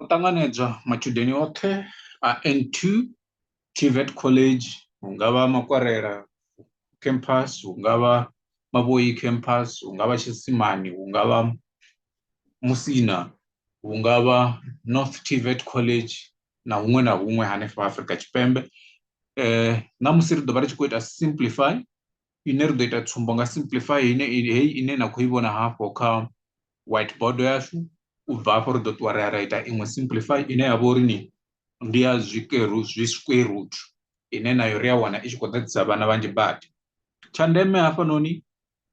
O ṱanganedzwa matshudeni oṱhe a N2 TVET College hungavha Makwarela campus hungavha Mavhoyi campus hungavha Tshisimani hungavha Musina hungavha North TVET College na huṅwe na huṅwe hanefha Afrika Tshipembe ṋamusi ri ḓo vha ri tshi khou ita simplify ine ri ḓo ita tsumbo nga simplify ine heyi ine na khou i vhona hafho kha white board yashu u bva hafho ri ḓo ṱuwa ri a ra ita iṅwe simplify ine ya vha uri ni ndi ya zwikeru zwi square root ine nayo ri a wana i tshi khou ḓadzisa vhana vhanzhi badi tsha ndeme hafhanoni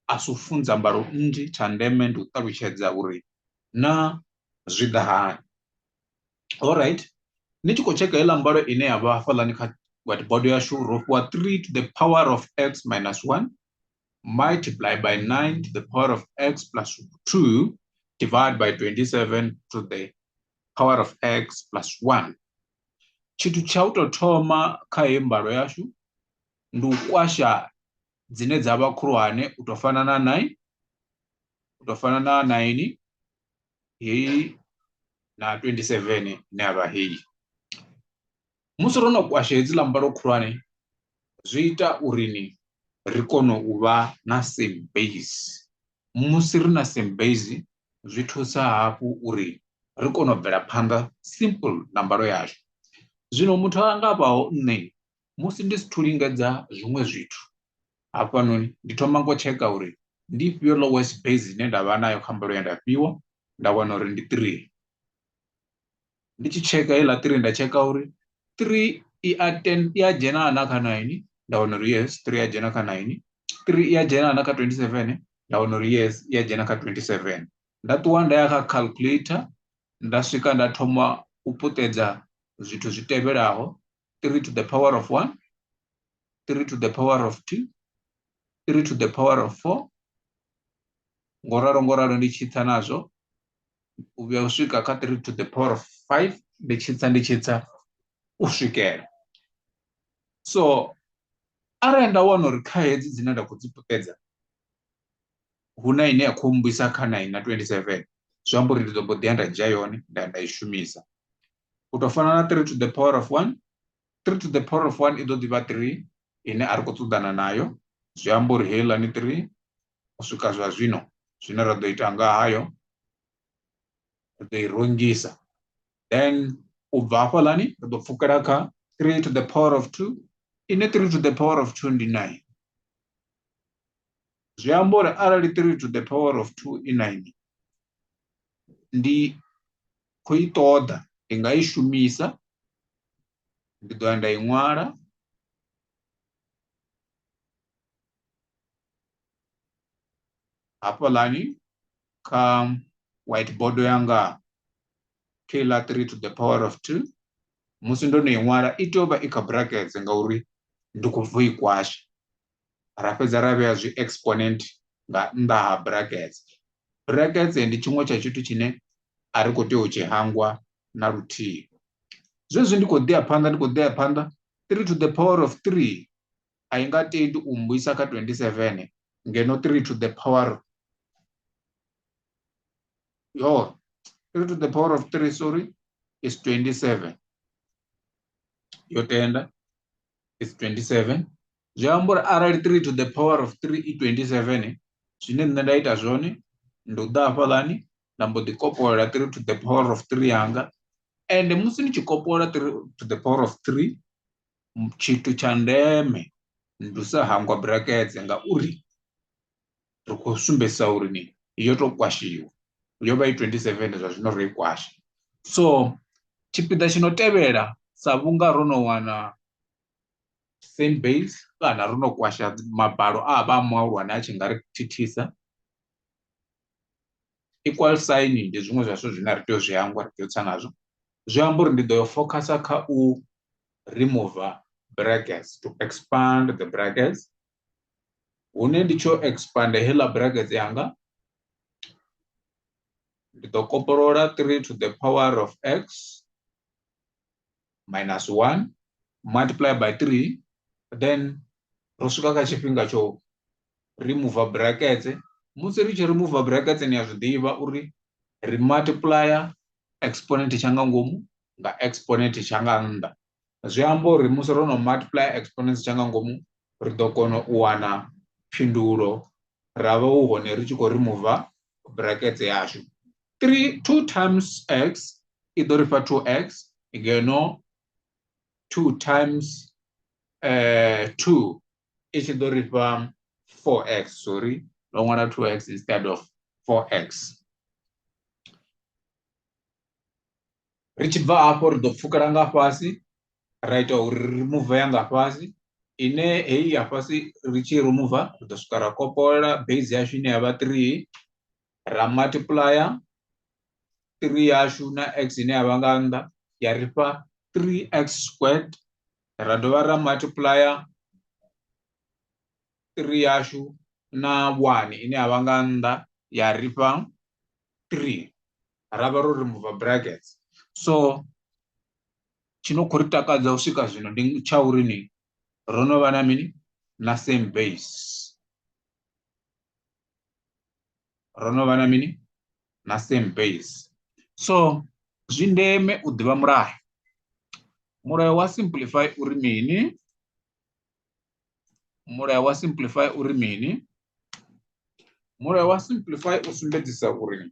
a si u funza mbalo nnzhi tsha ndeme ndi u ṱalutshedza uri na zwi ḓa hani Alright ni tshi khou tsheka heiḽa mbalo ine ya vha hafhaḽani kha whiteboard yashu ro fhiwa 3 to the power of x minus 1 multiply by 9 to the power of x plus 2 divide by 27 to the power of x plus 1 tshithu tsha u tou thoma kha heyi mbalo yashu ndi u kwasha dzine dza vha khulwane u tou fana na 9 u tou fana na 9 heyi na 27 ne a vha heyi musi ro no kwasha hedzi ḽa mbalo khulwane zwi ita uri ni ri kone u vha na same base musi ri na same base zwi thusa hafhu uri ri kone u bvela phanḓa simple na mbalo yashu zwino muthu a nga vhaho nṋe musi ndi si thu lingedza zwiṅwe zwithu hafhanoni ndi thoma ngo tsheka uri ndi ifhio lowest base ine nda vha nayo kha mbalo ye nda fhiwa nda wana uri ndi three ndi tshi tsheka heiḽa three nda tsheka uri three i a ten i a dzhena na kha nine nda wana uri yes three a dzhena kha nine three i a dzhena na kha twenty seven nda wana uri yes i a dzhena kha twenty seven nda ṱuwa nda ya kha calculator nda swika nda thoma u puṱedza zwithu zwi tevhelaho 3 to the power of 1, 3 to the power of 2, 3 to the power of 4, ngoralo ngoralo ndi tshitsa nazwo u vhuya u swika kha 3 to the power of 5 ndi tshitsa ndi tshitsa u swikela so arali nda wana uri kha hedzi dzine nda khou dzi puṱedza hu na ine ya khou mmbwisa kha 9 na 27 zwi amba uri ndi ḓo mbo ḓi ya nda dzhia yone nda nda i shumisa u tou fana na three to the power of one three to the power of one i ḓo ḓivha three ine a ri khou ṱoḓana nayo zwi amba uri heiḽani three u swika zwa zwino zwine ra ḓo ita nga hayo ri ḓo i rungisa then u bva hafhaḽani ri ḓo pfukela kha three to the power of two ine three to the power of two ndi nine zwi amba uri arali three to the power of two i nine ndi khou i ṱoḓa ndi nga i shumisa ndi ḓo ya nda i ṅwala hafhaḽani kha whiteboard yanga keiḽa three to the power of two musi ndo no i ṅwala i tea u vha i kha brackets ngauri ndi khou bvo i kwasha ra fhedza ra vhea zwi exponent nga nnḓa ha brackets brackets ndi tshiṅwe tsha tshithu tshine a ri khou tea u tshi hangwa na luthihi zwezwi ndi khou ḓi ya phanḓa ndi khou ḓi ya phanḓa 3 to the power of 3 a i nga tendi u mmbuyisa kha 27 ngeno 3 to the power yo 3 to the power of 3 sorry is 27 yo tenda is 27 zwi amba uri arali three to the power of three i twenty seven zwine nṋe nda ita zwone ndi u ḓa hafhaḽani nda mbo ḓi kopolola three to the power of three yanga ende musi ni tshi kopolola three to the power of three tshithu tsha ndeme ndi u sa hangwa buraketse ngauri ri khou sumbedzisa uri ni yo tou kwashiwa yo vha i twenty seven zwa zwino ro i kwasha so tshipiḓa tshi no tevhela sa vhunga ro no wana same base kana ro no kwasha mabalo a vha a muhulwane a tshi nga ri thithisa equal sign ndi zwiṅwe zwa zwithu zwine ri tea u zwi hangwa ri tea u tsa nazwo zwi amba uri ndi ḓo yo focusa kha u remove brackets to expand the brackets hune ndi tsho expand heḽa brackets yanga ndi ḓo kopolola 3 to the power of x minus 1 multiply by 3 then ro swika kha tshifhinga tsho remove brackets musi ri tshi remove brackets ni a zwi ḓivha uri ri multiplier exponent tsha nga ngomu nga exponent tsha nga nnḓa zwi amba uri musi ro no multiplier exponent tsha nga ngomu ri ḓo kona u wana phindulo ra vha hu hone ri tshi khou remove brackets yashu 3 2 times x i ḓo ri fha 2x ngeno 2 times uh, 2 i tshi ḓo ri fha 4x sorry ndo ṅwala 2x instead of 4x ri tshi bva hafho ri ḓo pfukela nga fhasi ra ita uri ri remove ya nga fhasi ine heyi ya fhasi ri tshi remove ri ḓo swika ra kopolola base yashu ine ya vha 3 ra multiplier 3 yashu na x ine ya vha nga nnḓa ya ri fha 3x squared ra dovha ra multiplier 3 yashu na 1 ine ya vha nga nnḓa ya ri fha 3 ra vha ro remove brackets so tshino khou ri takadza u swika zwino ndi tsha uri ni ro no vha na mini na same base ro no vha na mini na same base so zwi ndeme u ḓivha mulayo mulayo wa simplify uri mini mulayo wa simplify uri mini mulayo wa simplify u sumbedzisa uri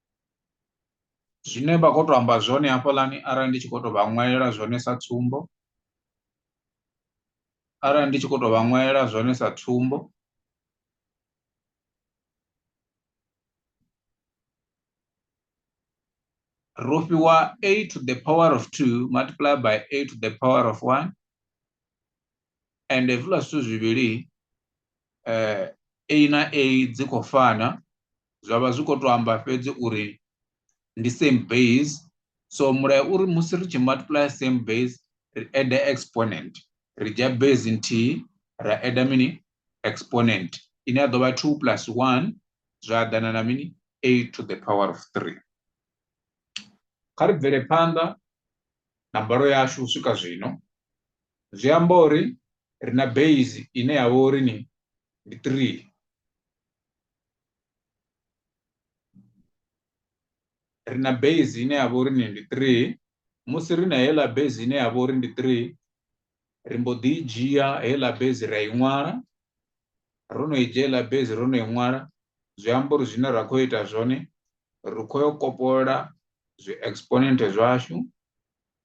zwine vha khou tou amba zwone hafhaḽani arali ndi tshi khou tou vha ṅwalela zwone sa tsumbo arali ndi tshi khou tou vha ṅwalela zwone sa tsumbo ro fhiwa a to the power of two multiply by a to the power of one and hezwiḽa zwithu zwivhili A na A dzi khou fana zwa vha zwi khou tou amba fhedzi uri ndi same base so mulayo uri musi ri tshi multiply same base ri add exponent ri dzhia base nthihi ra add mini exponent ine ya ḓo vha 2 plus 1 zwa ḓana na mini 8 to the power of 3 kha ri bvele phanḓa na mbalo yashu u swika zwino zwi amba uri ri na base ine ya vha uri ni ndi three ri na base ine ya vha uri ni ndi three musi ri na heiḽa base ine ya vha uri ndi three ri mbo ḓi i dzhia heiḽa base ra i ṅwala ro no i dzhia heiḽa base ro no i ṅwala zwi amba uri zwine ra khou ita zwone ri khou yo kopolola zwi exponent zwashu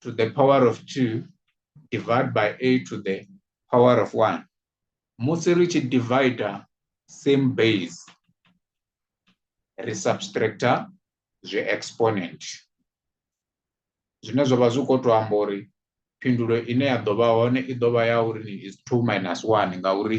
to the power of 2 divide by a to the power of 1 musi ri tshi divider same base ri subtractor zwi exponent zwine zwa vha zwi khou tou amba uri phindulo ine ya ḓo vha hone i ḓo vha ya uri ni is 2 minus 1 ngauri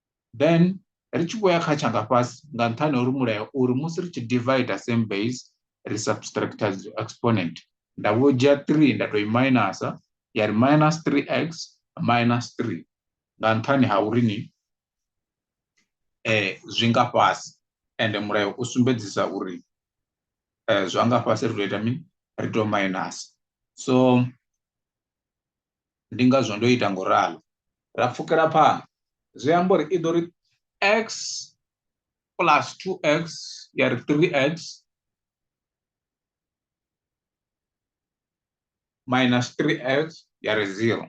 then ri tshi vhoya kha tshanga fhasi nga nṱhani uri mulayo uri musi ri tshi divider same base ri subtracta exponent nda vho dzhia 3 nda to i minusa ya ri minus 3x minus 3 nga nṱhani ha uri ni eh zwi nga fhasi ende mulayo u sumbedzisa uri eh zwa nga fhasi ri to ita mini ri to minus so ndi ngazwo ndo ita ngo ralo ra pfukela phanḓa zwi amba uri i ḓo ri x plus 2x ya ri 3x minus 3x ya ri 0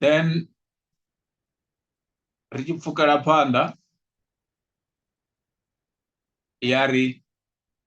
then ri tshi pfukela phanḓa ya ri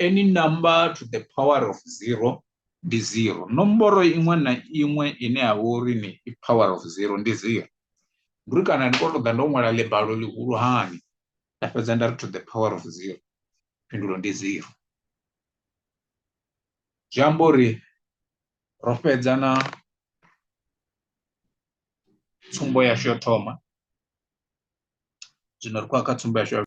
Any number to the power of zero ndi zero. Nomboro iṅwe na iṅwe ine ya vha uri ni i power of zero ndi zero. Ndi uri kana ndi kho to ḓa ndo ṅwala ḽibalo ḽihulu hani nda fhedza nda ri to the power of zero phindulo ndi zero. Zwi amba uri ro fhedza na tsumbo yashu yo thoma zwino ri khou ya kha tsumbo yashu ya.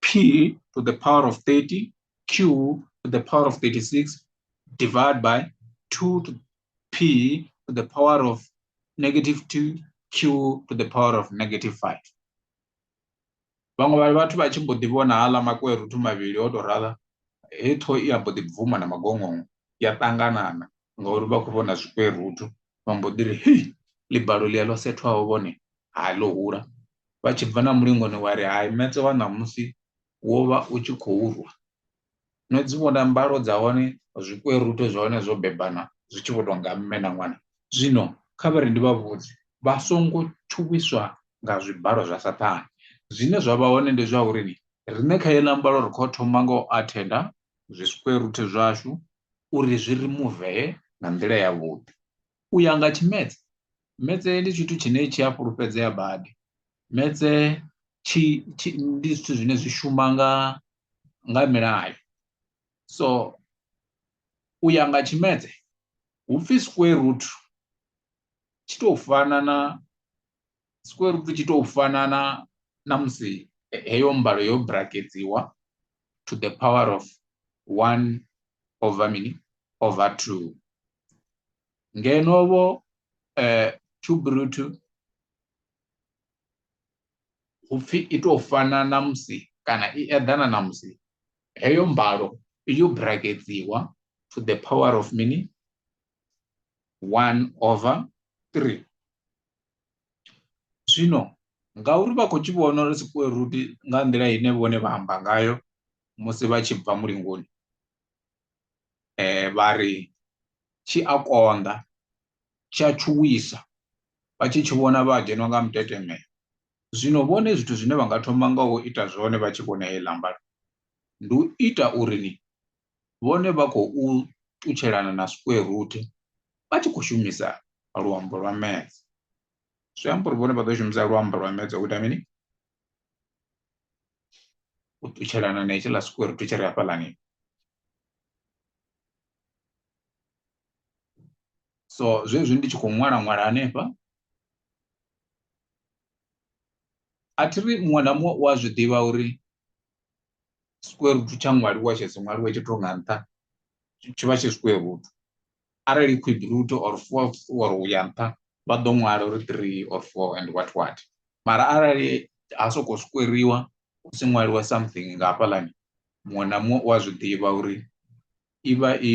p to the power of 30 q to the power of 36 divided by 2 to p to the power of negative 2 q to the power of negative 5 vhaṅwe vha vhathu vha tshi mbo ḓi vhona haḽa makweruthu mavhili o tou rala he ṱho i a mbo ḓi bvuma na magongongo ya ṱanganana ngauri vha khou vhona zwikweruthu vha mbo ḓi ri hei ḽibalo ḽia ḽo sethwaho vhone hai ḽo hula vha tshi bva na mulingoni wa ri hai metse wa ṋamusi wo vha u tshi khou rwa no dzi vhona mbalo dza hone zwikwerute zwa hone zwo bebana zwi tshi vho tou nga mme na ṅwana zwino kha vha ri ndi vha vhudze vha songo tshuwiswa nga zwibalo zwa saṱhane zwine zwa vha hone ndi zwa uri riṋe kha heila mbalo ri kho thoma nga u athenda zwi square root zwashu uri zwi ri muvee nga nḓila ya vhuḓi u ya nga tshimedze metse ndi tshithu tshine tshi a fhulufhedzea badi metse tshi ndi zwithu zwine zwi shuma nga nga milayo so u ya nga tshimedze hu pfhi square root tshi tou fana na square root tshi tou fana na na musi heyo mbalo yo braketsiwa to the power of 1 over mini over 2 ngeno vho eh, cube root upfi i tou fana na musi kana i eḓana na musi heyo mbalo yo braketsiwa to the power of mini 1 over 3 Zwino ngauri vha khou tshi vhona uri sikweruti nga nḓila ine vhone vha amba ngayo musi vha tshi bva mulingoni vha ri tshi a konḓa, tshi a tshuwisa, vha tshi tshi vhona vha dzheniwa nga mutetemelo. Zwino vhone zwithu zwine vha nga thoma nga u ita zwone vha tshi vhona heḽi ḽamba, ndi u ita uri ni vhone vha khou ṱutshelana na square root vha tshi khou shumisa luambo lwa maths zwi amba uri vhone vha ḓo shumisa luambo lwa maths u ita mini u ṱutshelana na hetshi ḽa square root tshi ri hafhaḽani so zwezwi ndi tshi khou ṅwala ṅwala hanefha a thi ri muṅwe na muṅwe u a zwi ḓivha uri square root tsha ṅwaliwa tshe si ṅwaliwe tshi to nga nṱha tshi vha tshi square root arali quid root or four or u ya nṱha vha ḓo ṅwala uri three or four and what what mara arali ha sokou squariwa hu si ṅwaliwa something nga hafhaḽani muṅwe na muṅwe u a zwi ḓivha uri i vha i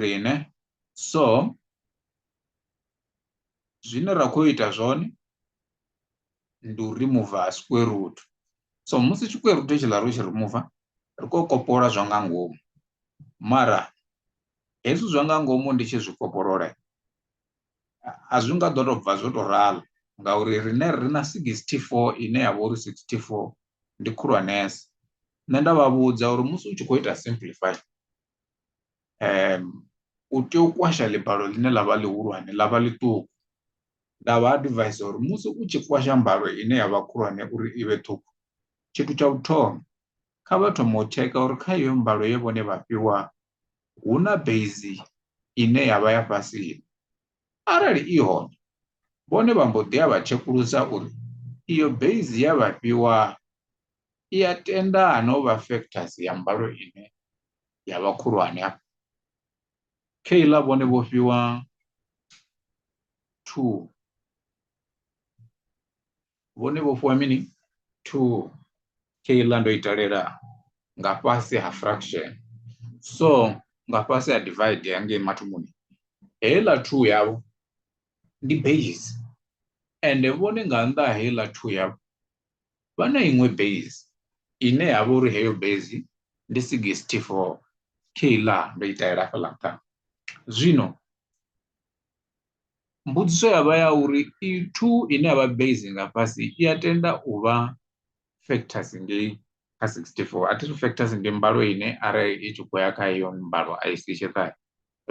riṋe so zwine ra khou ita zwone ndi u rimuva square root so musi square root tshiḽa ro tshi rimuva ri khou kopolola zwa nga ngomu mara hezwi zwa nga ngomu ndi tshi zwi kopolola a zwi nga ḓo tou bva zwo tou ralo ngauri rine ri na 64 ine ya vha uri 64 ndi khulwanesa nṋe nda vha vhudza uri musi u tshi khou ita simplify u tea u kwasha ḽibalo ḽine ḽa vha ḽihulwane ḽa vha ḽiṱuku nda vha advisor uri musi u tshi kwasha mbalo ine ya vha khulwane uri i vhe ṱhukhu tshithu tsha u thoma kha vha thoma u tsheka uri kha iyo mbalo ye vhone vha fhiwa hu na base ine ya vha ya fhasi arali i hone vhone vha mbo ḓi a vha tshekulusa uri iyo base ya vha fhiwa i ya tenda no vha factors ya mbalo ine ya vha khulwane afho keiḽa vhone vho fhiwa two vhone vho fhiwa mini two keiḽa ndo i talela nga fhasi ha fraction so nga fhasi ha divide hangei mathomoni heiḽa two yavho ndi base ende vhone nga nnḓa ha heiḽa two yavho vha na iṅwe base ine ya vha uri heyo base ndi 64 keiḽa ndo i ṱahela fhaḽa nṱha zwino mbudziso ya vha ya uri i 2 ine ya vha base nga fhasi i a tenda u vha factors ngei kha 64 a thi factors ndi mbalo ine arali i tshi khou ya kha iyo mbalo a i si tshiṱahe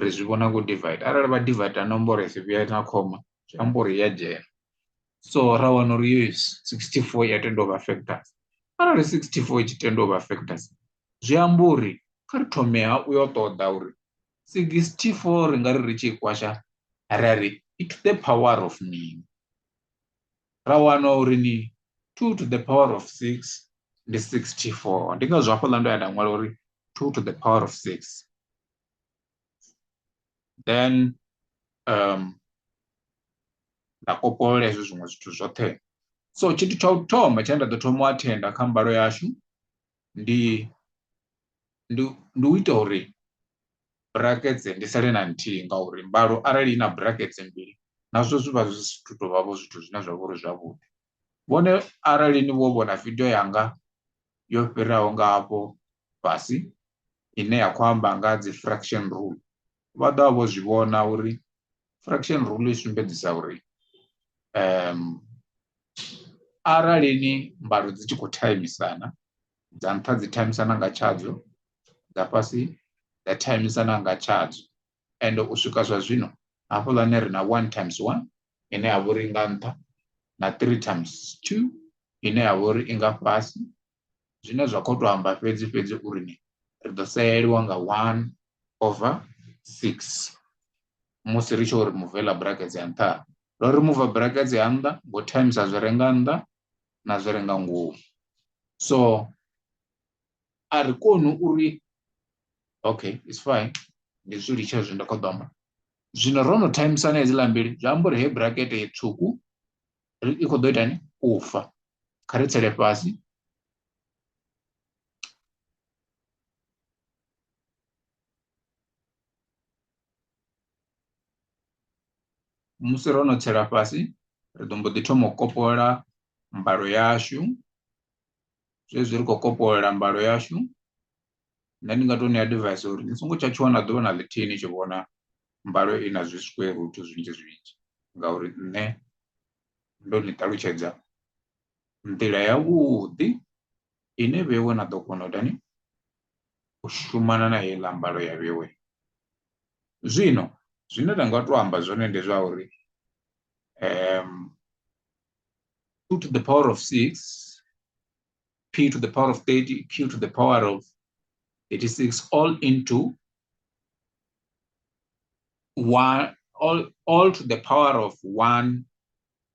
ri zwi vhona ngo divide arali vha divide nomboro i si vhuya na khoma zwi amba uri ya dzhena so ra wana uri yo 64 ya tenda u vha factors arali 64 i tshi tenda u vha factors zwi amba uri kha ri thome ha u yo ṱoḓa uri 64 ri nga ri ri tshi kwasha ra ri i to the power of mini ra wana uri ni 2 to the power of 6 ndi 64 ndi ngazwo hafhaḽa ndo ya nda ṅwala uri 2 to the power of 6 then um nda kopolola hezwo zwiṅwe zwithu zwoṱhe so tshithu tsha u thoma tshine nda ḓo thoma u athenda kha mbalo yashu ndi ndi ndi u ita uri brackets ndi sale na nthihi ngauri mbalo arali i na brackets mbili nazwo zwi vha zwi si thu tou vha vho zwithu zwine zwa vha uri zwavhuḓi Vhone arali ni vho vhona video yanga yo fhiraho nga hafho fhasi ine ya khou amba nga dzi fraction rule vha ḓo vha vho zwi vhona uri fraction rule i sumbedzisa uri um arali ni mbalo dzi tshi khou thaimisana dza nṱha dzi thaimisana nga tshadzo dza fhasi dza thaimisana nga tshadzo ende u swika zwa zwino hafhaḽani ri na one times one ine ya vha uri nga nṱha na three times two ine ya vha uri i nga fhasi zwine zwa khou tou amba fhedzi fhedzi uri ni ri ḓo sayeliwa nga one over six musi ri tshi uri muvela brackets ya nṱha ro ri muva brackets ya nnḓa ngo times a zwi renga nnḓa na zwi renga ngomu so a ri koni uri okay it's fine ndi zwi litsha zwi nda kho ḓo zwino ro no timeisana hedziḽa mbili zwi amba uri he brakete ye tswuku i khou ḓo ita ni u fa kha ri tsele fhasi musi ro no tsela fhasi ri ḓo mbo ḓi thoma u kopola mbalo yashu zwezwi ri khou kopolola mbalo yashu nṋe ndi nga to ṋea advice uri ni songo tsha tshuwa na ḓuvha na ḽithihi ni tshi vhona mbalo i na zwi square root zwinzhi zwinzhi ngauri nṋe ndo ni ṱalutshedza nḓila yavhuḓi ine vhewe na ḓo kona u tani u shumana na heiḽa mbalo ya vhewe zwino zwine nda nga to amba zwone ndi zwa uri um 2 to the power of 6, p to the power of 30, q to the power of 86, all into 1, all, all to the power of 1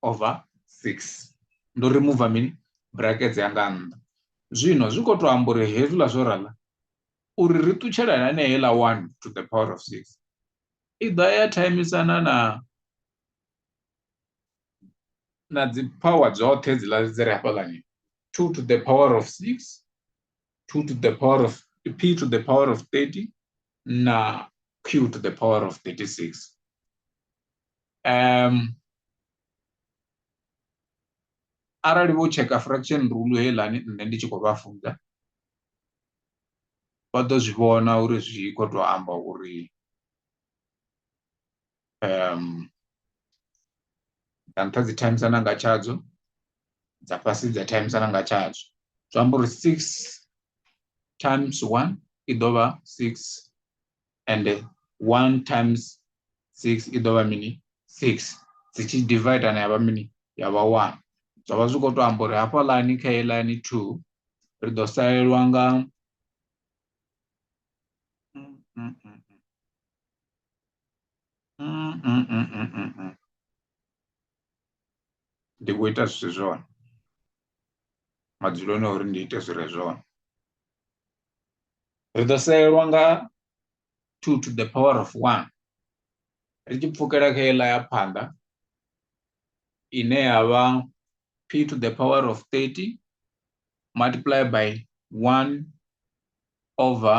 over 6. Ndo remove mini brackets yanga nnḓa. Zwino zwi khou tou amba uri hezwiḽa zwo rala uri ri ṱutshela na heiḽa 1 to the power of 6 i ḓa ya thaimisana na na dzi power dzoṱhe dzi ḽa dzi re hafhaḽani 2 to the power of 6 2 to the power of p to the power of 30 na q to the power of 36 um arali vho tsheka fraction rule heiḽani nṋe ndi tshi khou vha funza vha ḓo zwi vhona uri zwi khou tou amba uri um dza nṱha dzi times na nga tshadzo dza fhasi dza times na nga tshadzo zwi amba uri six times one i ḓo vha six and one times six i ḓo vha mini six dzi tshi divide na ya vha mini ya vha one zwa vha zwi khou to amba uri hafha ḽani kha heyi ḽani two ri ḓo salelwa nga mm, mm, mm, mm, mm, mm. ndi khou ita zwithu zwone madzuloni uri ndi ite zwire zwone ri ḓo salelwa nga two to the power of one ri tshi pfukela kha iḽa ya phanḓa ine ya vha p to the power of 30 multiply by 1 over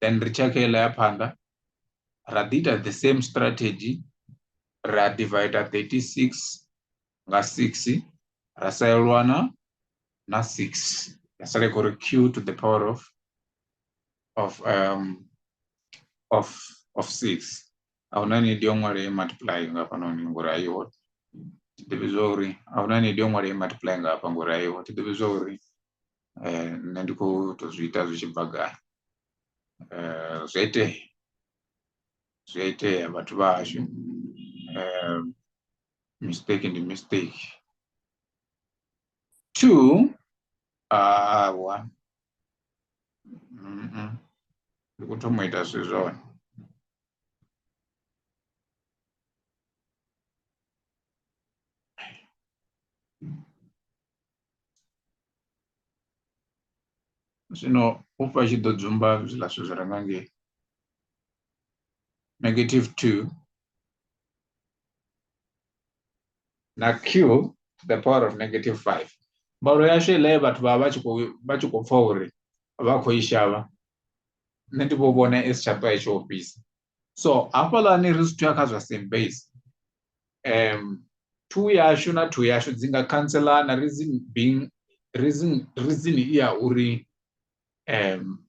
then ri tshakha iḽa ya phanḓa ra ḓi ita the same strategy ra divider 36 nga 6 ra salelwa na na 6 ya sala i khou ri q to the power of of um of of 6 ahuna ni dio ṅwale multiply nga fhanoni ngori ayiho ti ḓivhi zwa uri ahuna ni dio ṅwale multiply nga hafha ngori ayiho ti ḓivhi zwa uri eh, nṋe ndi khou to zwi ita zwi tshi bva gai eh, zwi a itea zwi a itea vhathu vha hashu eh, mistake ndi mistake two awa ndi khou thoma u ita zwi zwone zwino u fha tshi ḓo dzumba zwiḽa zwithu zwi re nga ngei negative two na q to the power of negative five mbalo yashu iḽa ye vhathu vha vha tshi khou vha tshi khou pfha uri vha khou i shavha nṋe ndi vho vhona i si tsha ṱwa i tshi ofhisa so hafhaḽani ri zwi thuya kha zwa same base um two yashu na two yashu dzi nga khantselana reason being reason reason i ya uri um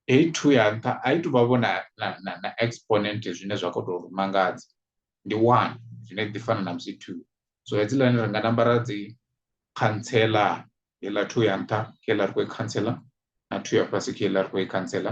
hei two ya nṱha a i tuvha vho na na na exponent zwine zwa kho to ri mangadza ndi one zwine ḓi fana na musi two so hedzilani ri nga namba ra dzi khantsela heiḽa two ya nṱha heiḽa ri khou i khantsela na two ya fhasi heiḽa ri khou i khantsela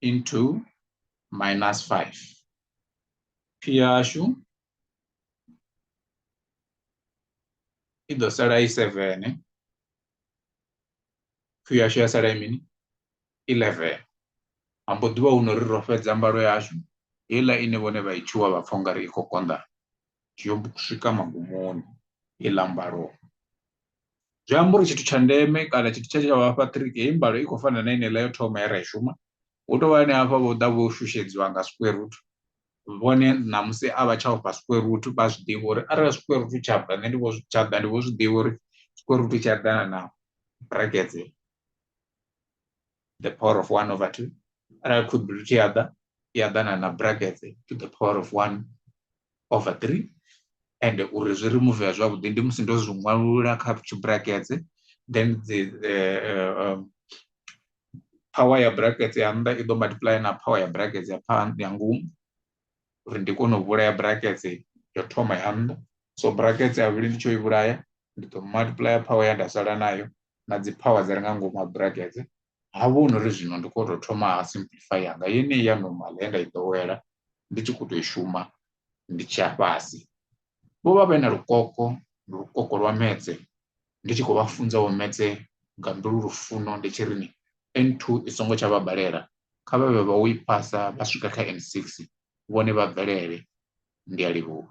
into minus 5. Piyashu i ḓo sala i 7 q yashu ya sala i mini 11 ambo ḓivha hu no ri ro fhedza mbalo yashu heiḽa ine vhone vha i tshuwa vha pfha ungari i khou konḓa zwi yo swika magumoni i ḽa mbalo zwi amba uri tshithu tsha ndeme kana tshithu tshe tsha vhafha ṱiriki heyi mbalo i khou fana na ine ḽa yo thoma ya ra i shuma hu tovha ane hafha vho ḓa vho shushedziwa nga square root vhone ṋamusi a vha tsha ofha square root vha zwi ḓivha uri arali square root tsha bva nṋe ndi vho tsha ḓa ndi vho zwi ḓivha uri square root tsha ḓana na brackets the power of 1 over 2, and I could be other, the other and a bracket to the power of 1 over 3, and uri zwi remove ya zwavhuḓi ndi musi ndo zwi ṅwalula kha brackets then the uh, um, power ya brackets ya nnḓa i ḓo multiply na power ya brackets ya phanḓa ya ngomu uri ndi kone u vhulaya brackets yo thoma ya nnḓa so brackets ya vhuli ndi tsho i vhulaya ndi ḓo multiplier power ya nda sala nayo na dzi power dzi re nga ngomu ha brackets ha vhona uri zwino ndi khou tou thoma ha simplify yanga yeneyi ya normal ye nda i ḓowela ndi tshi khou tou i shuma ndi tshi ya fhasi vho vha vhe na lukoko lukoko lwa metse ndi tshi khou vha funza vho metse nga mbilu lufuno ndi tshi ri ni N2 i songo tsha vha balela kha vha vhe vha u i phasa vha swika kha N6 vhone vha bvelele ndi a livhuwa